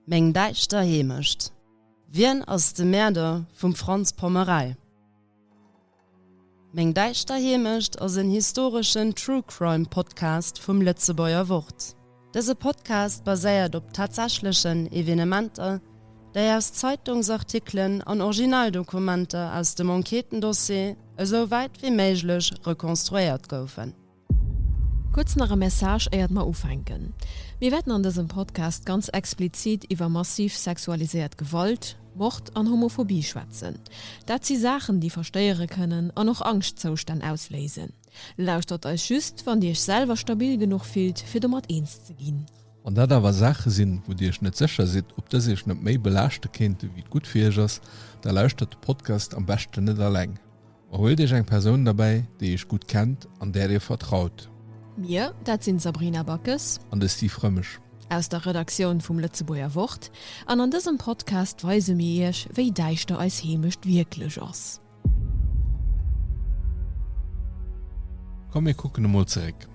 Meng däischter Heemecht. Wien ass de Mäerder vum Franz Pommerei? Meng däischter Heemecht ass en historeschen True Crime Podcast vum Lëtzebuerger Wort. Dëse Podcast baséiert op tatsächlechen Evenementer, déi aus Zeitungsartikelen an Originaldokumenter aus dem Enquêtendossier esou wäit wéi méiglech rekonstruéiert goufen. Kuerz nach e Message éiert mer ufänken. Mir wäerten an dësem Podcast ganz explizit iwwer massiv sexualiséiert Gewalt, Mord an Homophobie schwätzen. Dat si Saachen déi verstéiere kënnen an och Angschtzoustänn ausléisen. Lauschtert eis just wann dir iech selwer stabil genuch fillt fir domat eens ze ginn. Wann dat awer Saache sinn wou dir iech net sécher sidd ob dës iech net méi belaaschte kéinte wéi et gutt fir iech ass, da lauschtert de Podcast am beschten net alleng. Huelt iech eng Persoun derbäi, déi iech gutt kennt an där dir vertraut. Mir, dat sinn d'Sabrina Backes. An de Steve Rëmesch. Aus der Redaktioun vum Lëtzebuerger Wort. An an dësem Podcast weise mir iech, wéi däischter eis Heemecht wierklech ass. Komm mir kucken emol zeréck.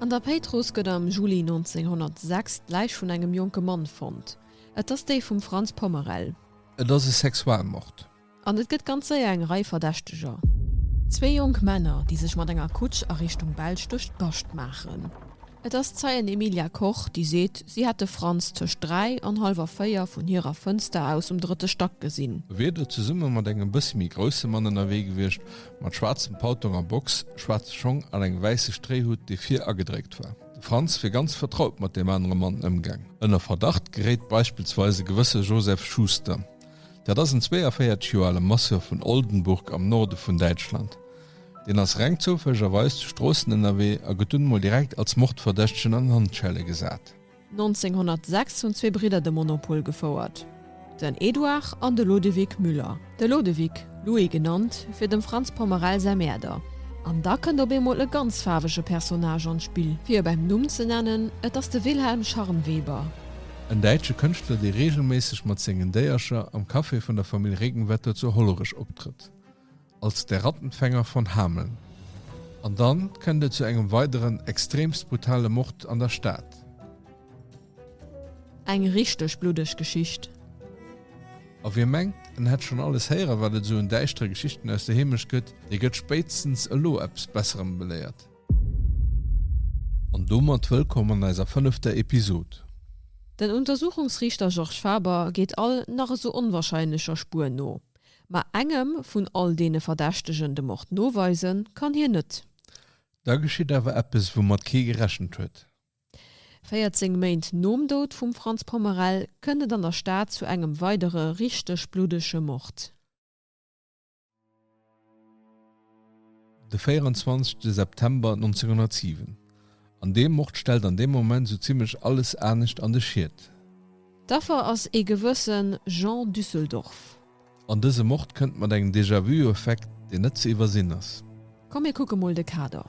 An der Péitruss gëtt am Juli 1906 d'Läich vun engem jonke Mann fonnt. Et ass déi vum Franz Pommerel. Et ass e Sexualmord. An et gëtt ganz séier eng Rei Verdächteger. Zwee jonk Männer, déi sech mat enger Kutsch a Richtung Belsch duerch d'Bascht maachen. Et ass d'Zeien Emilia Koch, déi seet, si hätt de Franz tëscht dräi an hallwer véier vun hirer Fënster aus um drëtte Stack gesinn. E wier do zesumme mat engem bësse méi grousse Mann ënnerwee gewiescht, mat schwaarzem Paltong a Box, schwaarze Schong an engem wäisse Stréihutt, dee vir agedréckt war. De Franz wier ganz vertraut mat deem anere Mann ëmgaang. Ënner Verdacht geréit beispillsweis e gewësse Joseph Schuster. Dat ass en 42 Joer ale Masseur vun Oldenburg am Norde vun Däitschland. Deen ass reng zoufällegerweis zu Stroossen ënnerwee a gëtt dunn mol direkt als Mordverdächtegen an Handschelle gesat. 1906 hunn zwee Bridder de Monopol gefouert, den Eduard an de Lodewig Müller, de Lodewig, Louis genannt fir dem Franz Pommerel säi Mäerder. An da kënnt op eemol e ganz faarwege Personnage an d'Spill, fir e beim Numm ze nennen, et ass de Wilhelm Scharnweber. En däitsche Kënschtler, dee reegelméisseg mat sengen Déiercher am Café vun der Famill Regenwetter zu Hollerech optrëtt, als Der Rattenfänger von Hameln. An dann kënnt et zu engem weideren extremst brutale Mord an der Stad. Eng richteg bluddeg Geschicht. A wie mengt, en hätt schonn alles héieren, wat et esou un däischtere Geschichten aus der Heemecht gëtt, dee gëtt spéitstens elo eppes Besserem beléiert. An domat wëllkomm an eiser fënnefter Episod. Den Untersuchungsriichter Georges Faber geet all nach esou onwahrscheinlecher Spuer no, ma engem vun all deene Verdächtegen de Mord noweise kann hien net. Da geschitt awer eppes, woumat kee gerechent huet. 14 Méint nom Doud vum Franz Pommerel kënnt et an der Stad zu engem weidere richteg bluddege Mord. De 24 September 1907. An deem Mord stellt an deem Moment sou zimlech alles anescht an de Schiet. D'Affer ass ee gewëssen Jean Düsseldorf. An dëse Mord kënnt mat engem Déjà-vu-Effekt, deen net ze iwwersinn ass. Komm mir kucke mol de Kader.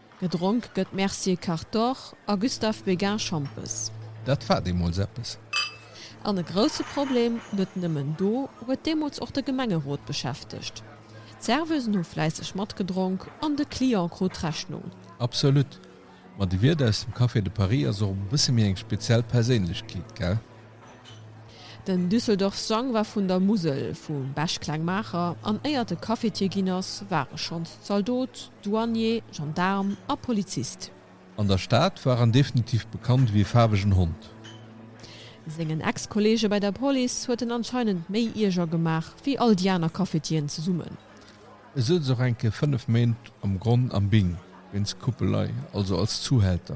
Gedronk gëtt Mercier Cartor a Gustave Béguin Schampes. Dat war deemools eppes! An e grousse Problem, net nëmmen do, huet deemools och de Gemengerot beschäftegt. D'Serveusen hu fläisseg matgedronk an de Client krut d'Rechnung. Absolut! Ma de Wiert aus dem Café de Paris ass och e bësse méi eng speziell Perséinlechkeet, gell? Den Düsseldorf Strang war vun der Musel, vum Besch kleng Maacher, an éiert e Cafetier ginn ass, war e schonns Zaldot, Douanier, Gendaarm a Polizist. An der Stad war en definitiv bekannt ewéi e faarwegen Hond. Sengen Ex-Kolleege bei der Police huet en anscheinend méi Ierger gemaach ewéi all déi aner Cafetieren zesummen. E souz och enke 5 Méint am Gronn am Bing, wéinst Kuppelei, also als Zuhälter.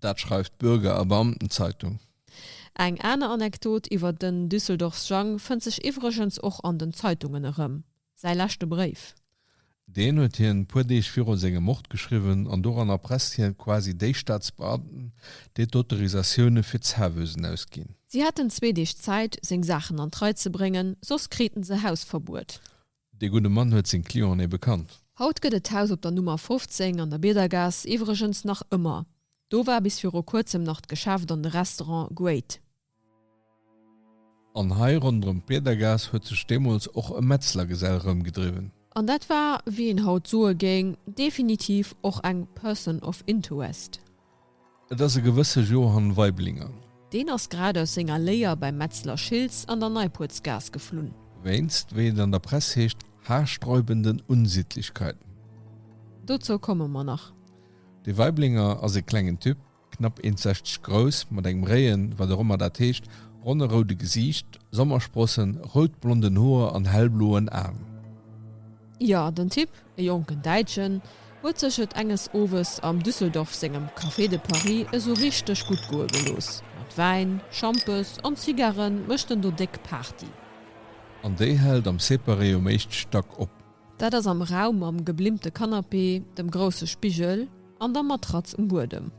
Dat schreift d'Bürger a Beamtenzeitung. Eng aner Anekdot iwwer den Düsseldorfs Jang fënnt sech iwwregens och an den Zeitungen erëm, säi leschte Bréif. Deen huet hien e puer Deeg viru sengem Mord geschriwwen an doran erpresst hien quasi déi Staatsbeamten, déi d'Autorisatioune fir d'Zerwësen ausginn. Si hätten zwee Deeg Zäit, seng Saachen an d'Rei ze bréngen, soss kriten se Hausverbuet. Dee gudde Mann huet seng Clienten ebe kannt. Haut gëtt et d'Haus op der Nummer 15 an der Biedergaass iwwregens nach ëmmer. Do war bis viru kuerzem nach d'Geschäft an de Restaurant Great. An hei ronderëm d'Biedergaass huet sech deemools och e Metzlergesell rëmgedriwwen. An dat war, wéi een haut soe géing, definitiv och eng Person of Interest. Et ass e gewësse Johann Weiblinger. Deen ass grad aus senger Léier beim Metzler Schiltz an der Neipuertsgaass geflunn. Wéinst, wéi et an der Press heescht, haarsträubenden Unsittlichkeiten. Dozou komme mer nach. De Weiblinger ass e klengen Typ, knapp 1,60 grouss, mat engem réien, wat och ëmmer dat heescht, ronne roude Gesiicht, Sommersprossen, rout-blonden Hoer an hellbloen Aen. Jo, den Typ, e jonken Däitschen, huet sech et enges Owes am Düsseldorf sengem Café de Paris esou richteg gutt goe gelooss. Mat Wäin, Schampes an Zigarre mécht en do déck Party. An déi hält am Separé um éischte Stack op. Dat ass am Raum mam geblimmte Canapé, dem grousse Spigel an der Matratz um Buedem.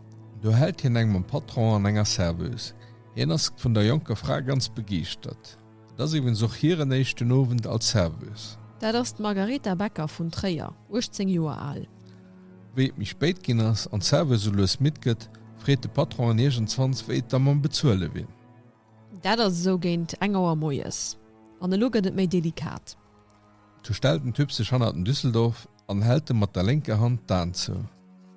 Do hält hien eng mam Patron an enger Serveuse. Hien ass vun der jonker Fra ganz begeeschtert. Et ass iwwens och hiren éischten Owend als Serveuse. Dat ass d'Margaretha Becker vun Tréier, 18 Joer al. Wéi et méi spéit ginn ass an d'Serveuse sou lues midd gëtt, freet de Patron en iergendzwanns, wéi et da mam Bezuele wier. Dat ass esou géint eng Auer moies. An elo gëtt et méi delikat. Du stellt den Typ sech hannert den Düsseldorf En hält e mat der lénker Hand d'Aen zou.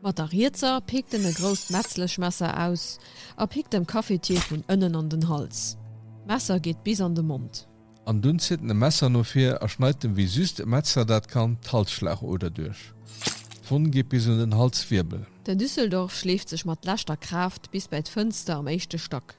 Mat der rietser pikt en e grousst Metzlechmesser aus a pikt dem Cafetier vun ënnen an den Hals. D'Messer geet bis an de Mond. An dunn zitt en e Messer no vir a schneit dem, wéi just e Metzler dat kann, d'Halsschlagoder duerch. D'Wonn geet bis un den Halswirbel. Den Düsseldorf schleeft sech mat leschter Kraaft bis bäi d'Fënster am éischte Stack.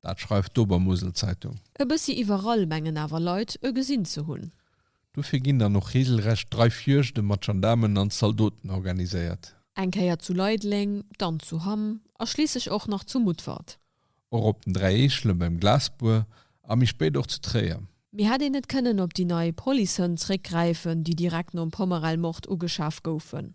Dat schreift d'Obermusel-Zeitung. E bëssi iwwerall mengen awer Leit e gesinn ze hunn. Dofir ginn dann och reegelrecht Dreifjuegte mat Gendaarmen an Zaldoten organiséiert. Eng Kéier zu Leideleng, dann zu Hamm a schliisslech och nach zu Mutfert. Och op den Dräi Eechelen, beim Glasbuer a méi spéit och zu Tréier. Mee hätt een net kënnen op déi nei Policehënn zréckgräifen, déi direkt nom Pommerell-Mord ugeschaf goufen?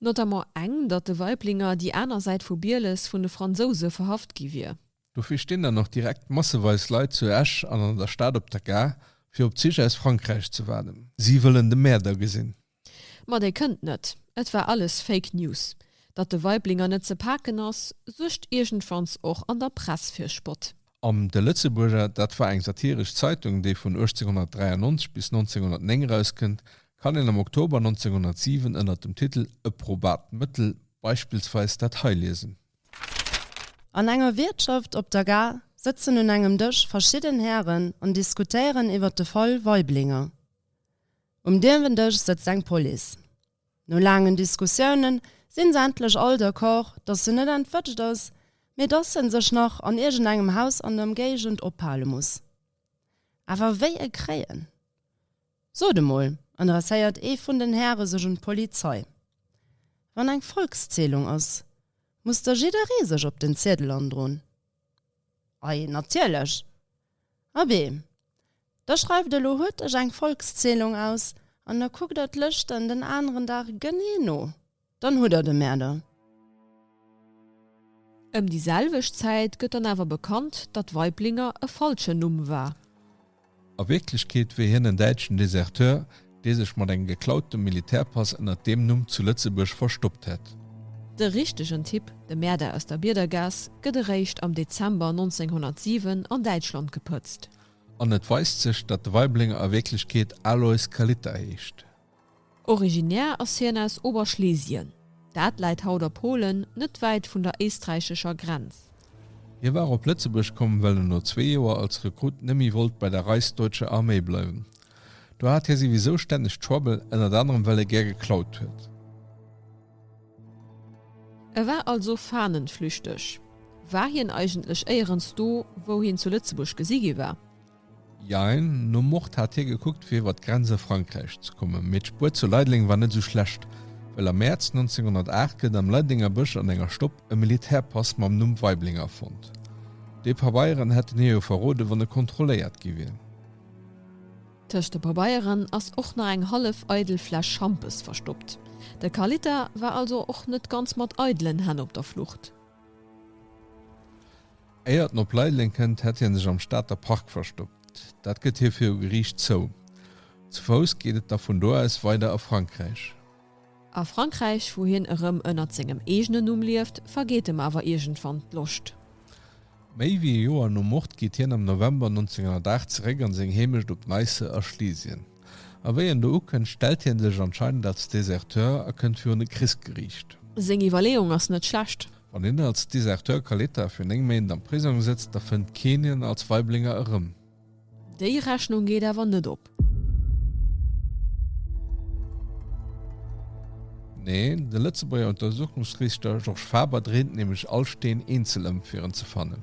Notamment eng, datt de Weiblinger, déi aner Säit vu Bieles, vun de Fransouse verhaft gi wier. Dofir stinn dann och direkt masseweis Leit zu Esch an an der Stad op der Gare, fir op d'Zich aus Frankräich ze waarden. Si wëllen de Mäerder gesinn. Ma dee kënnt net. Et war alles Fake News. Datt de Weiblinger net ze paken ass, suergt iergendwanns och an der Press fir Spott. Am De Lëtzebuerger, dat war eng satiresch Zeitung, déi vun 1893 bis 1909 erauskënnt, kann een am Oktober 1907 ënner dem Titel E probat Mëttel beispillsweis dat hei liesen. An enger Wiertschaft op der Gare sëtzen un engem Dësch verschidden Hären an diskutéieren iwwer de Fall Weiblinger. Um Dierwendësch sëtzt eng Police. No laangen Diskussiounen sinn se endlech all d'accord, dass se net entwëtscht ass, mee dass en sech nach an iergend engem Haus an der Emgéigend ophale muss. Awer wéi e kréien? Sot emol, adresséiert ee vun den Häre sech un d'Polizei, wann eng Volkszählung ass, muss da jidderee sech op den Ziedel androen? Ei, natierlech! Abee, da schreift elo huet dech eng Volkszählung aus an da kuckt der d'Lëschten den aneren Dag genee no, dann hutt der de Mäerder. Ëm déi selwecht Zäit gëtt dann awer bekannt, datt Weiblinger e falschen Numm war. A Wierklechkeet wier hien en däitschen Deserteur, dee sech mat engem geklautem Militärpass ënnert deem Numm zu Lëtzebuerg verstoppt hätt. De richtegen Typ, de Mäerder aus der Biedergaass, gëtt eréischt am Dezember 1907 an Däitschland gepëtzt. An et weist sech, datt de Waiblénger a Wierklechkeet Aloys Kalita heescht. Originär ass hien aus Oberschlesien, dat läit haut a Polen, net wäit vun der éisträichescher Grenz. Hie war op Lëtzebuerg komm, well en no zwee Joer als Rekrut nëmmi wollt bei der Reichsdeutscher Armee bleiwen. Do hat hie souwisou stänneg Trouble, ënnert anerem well e gär geklaut huet. E war also fahnenflüchteg. War hien eigentlech éierens do, wou hien zu Lëtzebuerg gesi gi war? Jein, nom Mord hat hie gekuckt fir iwwer d'Grenz a Frankräich ze kommen, mee d'Spuer zu Leideleng war net esou schlecht, well am Mäerz 1908 gëtt am Leidelenger Bësch an enger Stopp e Militärpass mam Numm Weiblinger fonnt. Déi Pabeieren hätten hie jo verroden, wann e kontrolléiert gi wier. Tëscht de Pabeieren ass och nach eng hallef eidel Fläsch Schampes verstoppt. De Carlita war also och net ganz mat eidelen Hänn op der Flucht. Éiert en op Leideleng kënnt, hätt hie sech am Stater Park verstoppt. Dat gëtt hie viru Geriicht zou. Zu Fouss geet et da vun do aus weider a Frankräich. A Frankräich, wou hien erëm ënnert sengem eegenen Numm lieft, vergeet em awer iergendwann d'Loscht. Méi wéi e Joer nom Mord geet hien am November 1908 zeréck an seng Heemecht op Neisse a Schlesien. A wéi en do ukënnt, stellt hien sech anscheinend als Deserteur a kënnt virun e Krichsgeriicht. Seng Iwwerleeung ass net schlecht. Wann hien als Deserteur Caleta fir 9 Méint am Prisong sëtzt, da fënnt keen hien als Waiblinger erëm. Déi Rechnung geet awer net op. Neen, de Lëtzebuerger Untersuchungsriichter Georges Faber dréint nämlech all Steen eenzel ëm fir en ze fannen.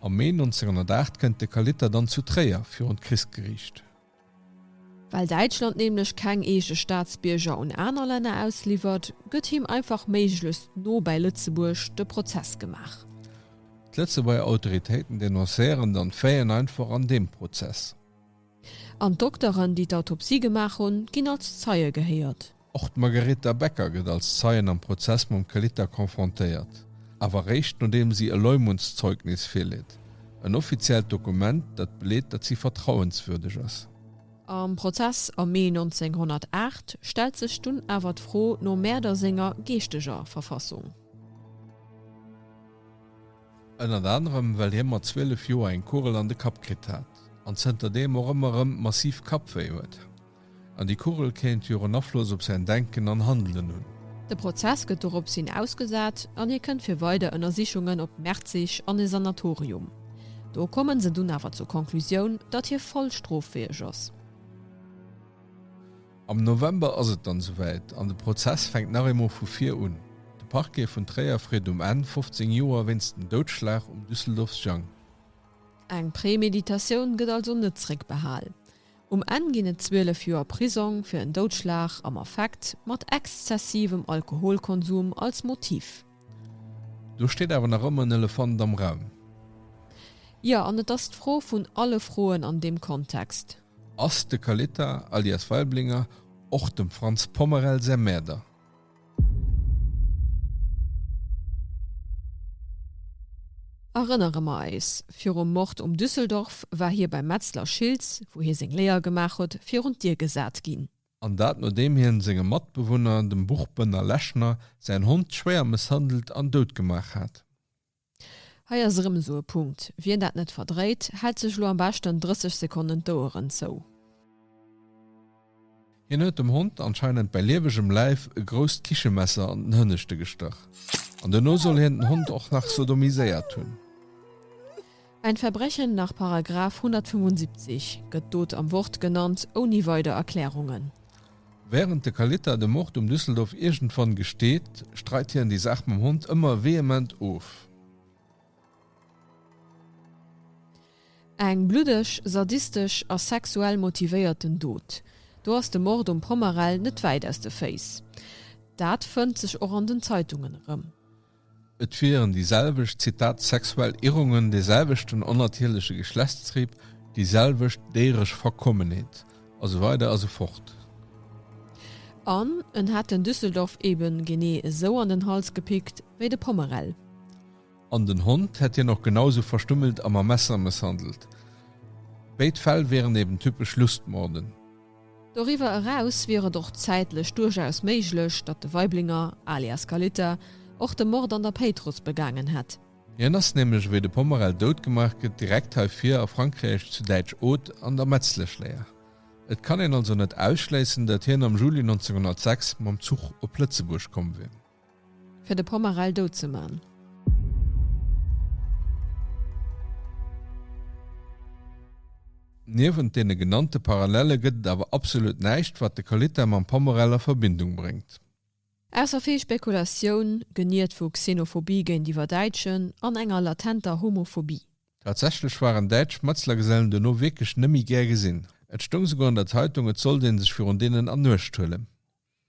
Am Mee 1908 kënnt de Kalitta dann zu Tréier virun d'Krichsgeriicht. Well Däitschland nämlech keng eege Staatsbierger un aner Länner ausliwwert, gëtt him einfach méiglechst no bäi Lëtzebuerg de Prozess gemaach. D'Lëtzebuerger Autoritéiten denoncéieren dann d'Véien einfach an deem Prozess. An d'Dokteren, déi d'Autopsie gemaach hunn, ginn als Zeie gehéiert. Och d'Margaretha Becker gëtt als Zeien am Prozess mam Kelita confrontéiert, awer réischt nodeem si e Leumuntszeugnis virleet, en offiziellt Dokument, dat beleet, datt si vertrauenswürdeg ass. Am Prozess am Mee 1908 stellt sech dunn awer d'Fro nom Mäerder senger geeschteger Verfassung. Ënnert anerem well hie mat 12 Joer eng Kugel an de Kapp kritt hat an zënter deem och ëmmer erëm massiv Kappwéi huet. An déi Kugel kéint jo och en Afloss op säin Denken an Handelen hunn. De Prozess gëtt doropshin ausgesat an hie kënnt fir weider Ënnersichungen op Merzig an e Sanatorium. Do kommen se dunn awer zur Conclusioun, datt hie voll stroffäeg ass. Am November ass et dann esouwäit an de Prozess fänkt nach eemol vu vir un. De Parquet vun Tréier freet um Enn 15 Joer wéinst dem Doudschlag um Düsseldorfs Jang. Eng Prämeditatioun gëtt also net zréckbehal. Um Enn ginn et 12 Joer Prisong fir en Doudschlag am Affekt mat exzessivem Alkoholkonsum als Motiv. Do steet awer nach ëmmer en Elefant am Raum. Jo, an et ass d'Fro vun alle Froen an deem Kontext. Ass de Kalita, alias Waiblinger, och dem Frantz Pommerel säi Mäerder? Erënnere mer eis, Virum Mord um Düsseldorf war hie beim Metzler Schiltz, wou hie seng Léier gemaach huet, virun d'Dier gesat ginn. An dat nodeem hien sengem Matbewunner, dem Buchbënner Lechner, säin Hond schwéier mësshandelt an dout gemaach hat. Hei ass erëm esou e Punkt, wien dat net verdréit, hält sech elo am beschten 30 Sekonnen d'Oueren zou. Hien huet dem Hond anscheinend bei liewegem Läif e grousst Kichemesser an den Hënneschte gestach an duerno soll hien den Hond och nach sodomiséiert hunn. Ein Verbrechen nach Paragraf 175 gëtt d'Dot am Wort genannt, ouni weider Erklärungen. Während de Kalita de Mord um Düsseldorf iergendwann gesteet, streit hien déi Saach mam Hond ëmmer vehement of. Eng bluddeg, sadistesch a sexuell motivéierten Dot. Do ass de Mord um Pommerell net wäit aus de Féiss. Dat fënnt sech och an den Zeitungen erëm. Et wieren déi selwecht, Zitat, sexuell Irrungen, dee selwechten onnatierleche Geschlechtstrieb, déi selwecht déieresch Verkommenheet, a sou weider a sou fort. An en hätt den Düsseldorf eben genee esou an den Hals gepickt wéi de Pommerell. An den Hond hätt hien och genau esou verstümmelt a mam Messer mësshandelt. Béid Fäll wieren eben typesch Lustmorden. Doriwwer eraus wier et och zäitlech duerchaus méiglech, datt de Weiblinger, alias Kalita, och de Mord an der Péitruss begaangen hätt. Hien ass nämlech, wéi de Pomerel dout gemaach gëtt, direkt hei vir a Frankräich zu Däitsch-Oth an der Metzleschléier. Et kann een also net ausschléissen, datt hien am Juli 1906 mam Zuch op Lëtzebuerg komm wier. Fir de Pomarell dout ze man. Niewent deene genannte Parallelle gëtt et awer absolut näischt, wat de Kalita mam Pomarell a Verbindung bréngt. Ausser vill Spekulatioun, geniert vu Xenophobie géintiwwer Däitschen an enger latenter Homophobie. Tatsächlech waren däitsch Schmëtzlergesellen dono wierklech nëmme méi gär gesinn. Et stoung souguer an der Zeitung, et sollt ee sech virun deenen an Uecht huelen.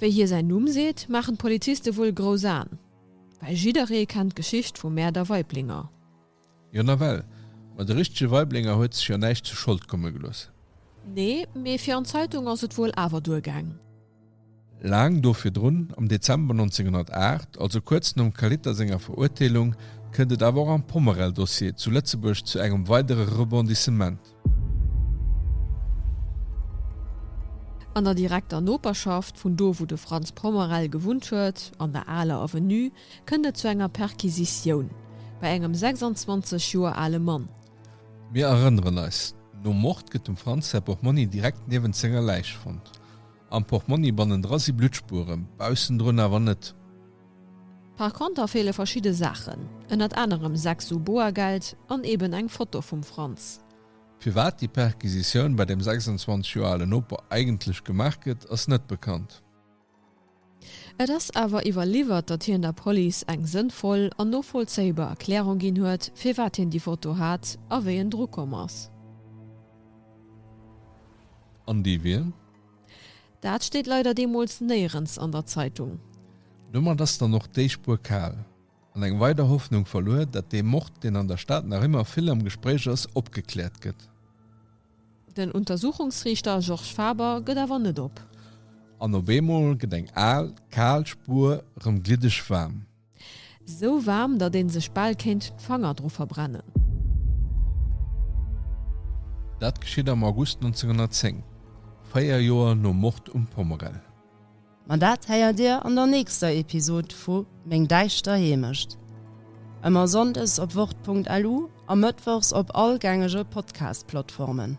Wéi hie säin Numm seet, maachen d'Poliziste wuel grouss Aen, well jidderee kennt d'Geschicht vum Mäerder Weiblinger. Jo nawell, ma de richtege Weiblinger huet sech jo näischt zu Schold komme gelooss. Nee, mee fir an d'Zeitung ass et wuel awer duergaang. Laang do virdrun, am Dezember 1908, also kuerz nom Kaliter senger Verurteelung, kënnt et awer och am Pommerell-Dossier zu Lëtzebuerg zu engem weidere Rebondissement. An der direkter Noperschaft vun do wou de Frantz Pommerel gewunnt huet, an der aler Avenue, kënnt et zu enger Perquisitioun bei engem 26 Joer ale Mann. Mir erënneren eis, Nom Mord gëtt dem Frantz säi Portmonni direkt niewent senger Läich fonnt. Am Portmonni bannendra si Bluttspueren, baussendrun awer net. Par conter feele verschidde Saachen, ënnert anerem 6 Su Boergeld an eben eng Foto vum Franz. Firwat déi Perquisitioun bei dem 26 Joer ale Noper eigentlech gemaach gëtt, ass net bekannt. Et ass awer iwwerliwwert, datt hien der Police eng sënnvoll an novollzéibar Erklärung ginn huet, firwat hien déi Foto hat a wéi en drukomm ass. An déi wier? Dat steet leider deemols néierens an der Zeitung. Domat ass dann och déi Spuer kal an eng weider Hoffnung verluer, dat dee Mord, deen an der Stad nach ëmmer vill am Gespréich ass, opgekläert gëtt. Den Untersuchungsriichter Georges Faber gëtt awer net op. An op eemol gëtt eng al, kal Spuer erëm gliddeg waarm. Sou waarm, datt een sech bal kéint d'Fanger dru verbrennen. Dat geschitt am August 1910, véier Joer nom Mord um Pommerell. Ma dat héiert Dir an der nächster Episod vu Meng däischter Heemecht. Ëmmer sonndes op wort.lu a mëttwochs op all gängege Podcast-Plattformen.